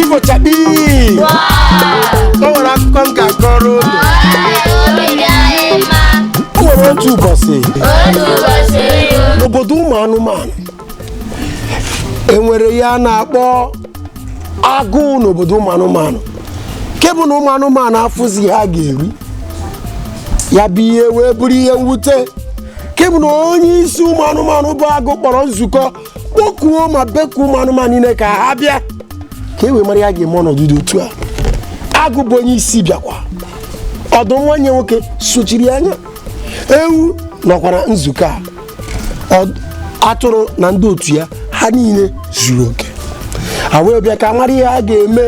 Ifo chakpi o nwere akụkọ m ga-akọrọ unu o nwere otu ụbọchị n'obodo ụmụ anụmanụ e nwere ihe a na-akpọ agụụ n'obodo ụmụ anụmanụ nke bụ na ụmụ anụmanụ afụzi ihe ha ga-eri ya bụ ihe wee bụrụ ihe mwute nke bụ na onye isi ụmụ anụmanụ bụ agụ kpọrọ nzukọ kpọkuo ma bekuo ụmụ anụmanụ niile ka ha bịa ka e wee mara ihe a ga-eme ọnọdụ dị otu a agụ bụ onye isi bịakwa ọdụm nwanne ya nwoke sochiri ya anya ewu nọkwa na nzukọ a atụrụ na ndị otu ya ha niile zuru oke ha wee bịa ka ha mara ihe ha ga-eme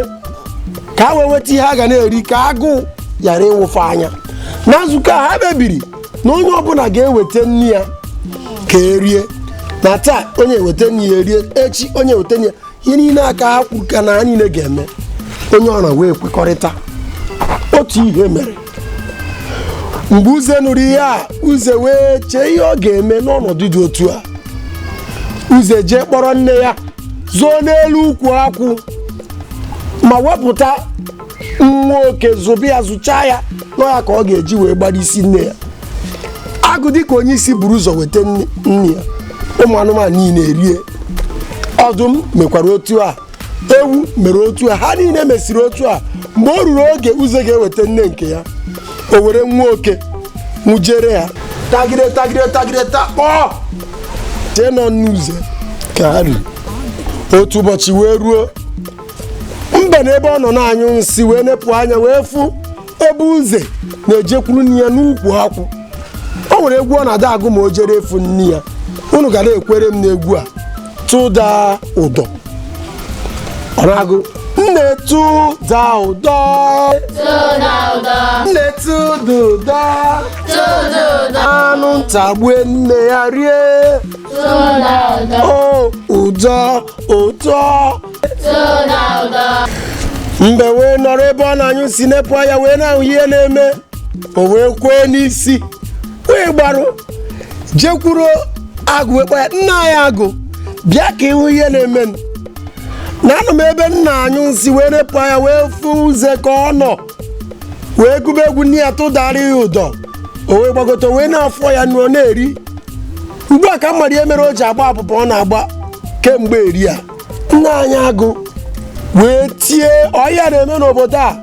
ka ha wee nweta ihe ha ga na-eri ka agụụ ghara ịwụfe anya na nzukọ a ha kpebiri na onye ọbụla ga-eweta nne ya ka erie na taa onye eweta nne ya erie echi onye eweta nne ya ihe niile a ka ha kwuru ka na ha niile ga-eme onye ọra wee kwekọrịta otu ihe mere mgbe uze nụrụ ihe a uze wee chee ihe ọ ga-eme n'ọnọdụ dị otu a uze jee kpọrọ nne ya zoo n'elu ukwu akwụ ma wepụta nwa oke zụba ya zụchaa ya na ọ ya ka ọ ga-eji wee gbara isi nne ya agụ dịka onye isi buru ụzọ weta nne ya ụmụ anụmanụ niile erie ọdụm mekwara otu a ewu mere otu a ha niile mesiri otu a mgbe o ruru oge uze ga-eweta nne nke ya o were nwa oke nwụjere ha tagide tagide tagide takpọọ chee na ọ nne uze ka ha riri otu ụbọchị wee ruo mbe na ebe ọ nọ na-anyụ nsị wee nepụ anya wee fụ ebe uze na-ejekwuru nne ya n'ukwu akwụ o nwere egwu ọ na-adị agụ ma o jere ịfụ nne ya unu ga na-ekwere m n'egwu a tụda ụdọ ọ na-agụ nne tụda ụdọ nne tụda ụdọ anụ nta gbue nne ya rie o ụdọ ụdọ mbe wee nọrọ ebe ọ na-anyụ nsị nepụ anya wee na-ahụ ihe na-eme o wee kwee n'isi wee gbarụ jekwuru agụ wee kpọ ya nna anyị agụ bịa ka ị hụ ihe na-emenụ na anọ m ebe m na-anyụ nsị wee nepụ anya wee fụ uze ka ọ nọ wee gụba egwu nne ya tụdara ya ụdọ o wee gbagote o wee na-afọ ya ọnụ ọ na-eri ugbu a ka m mara ihe mere o ji agba abụba ọ na-agba kemgbe eri a nna anyị agụ wee tie ọ ihe a na-eme n'obodo a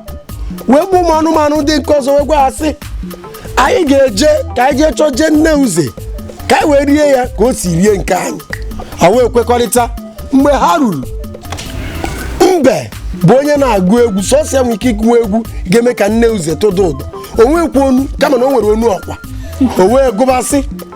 wee kpọọ ụmụ anụmanụ ndị nke ọzọ wee gwa ha sị anyị ga-eje ka anyị jee chọje nne uze ka anyị wee rie ya ka o si rie nke anyị ha wee kwekọrịta mgbe ha ruru mbe bụ onye na-agụ egwu sọsọ ya nwere ike ịgụwa egwu ga-eme ka nne uze tụda ụdọ o nwekwa onu kama na o nwere onu ọkwa o wee gụba sị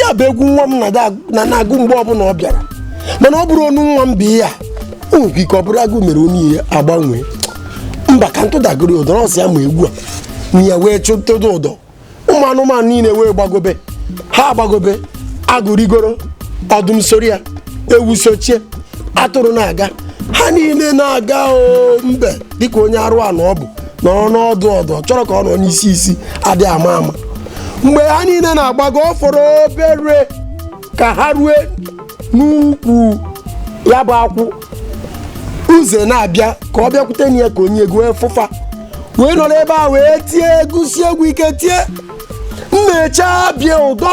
ya bụ egwu nwa m na-ada- na na-agụ mgbe ọbụla ọ bịara mana ọ bụrọ onu nwa m bụ ihe a o nwere ike ọ bụrụ agụụ mere onu ya agbanwee mba ka m tụdagodu ụdọ na ọ sọ ya ma egwu a nne ya wee tụda ụdọ ụmụ anụmanụ niile wee gbagobe ha agbagobe agụ rigoro ọdụm soro ya ewu sochie atụrụ na-aga ha niile na-aga o mbe dịka onye arụrụ ana ọ bụ nọrọ n'ọdụ ọdụ ọ chọrọ ka ọ nọ n'isi isi adịghị ama ama mgbe ha niile na-agbago ọ fọrọ obere ka ha rue n'ukwu ya bụ akwụ uze na-abịa ka ọ bịakwute nne ya ka onye egwu fụ fa wee nọrọ ebe a wee tie gụsie egwu ike tie nne chabie ụdọ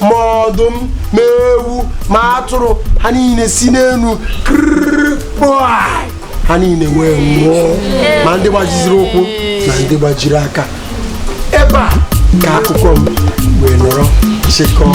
ma ọdụm ma ewu ma atụrụ ha niile si n'elu ha niile wee nwụọ ma ndị gbajiziri ụkwụ na ndị gbajiri aka ebe a ka akụkọ m wee nọrọ chịkọọ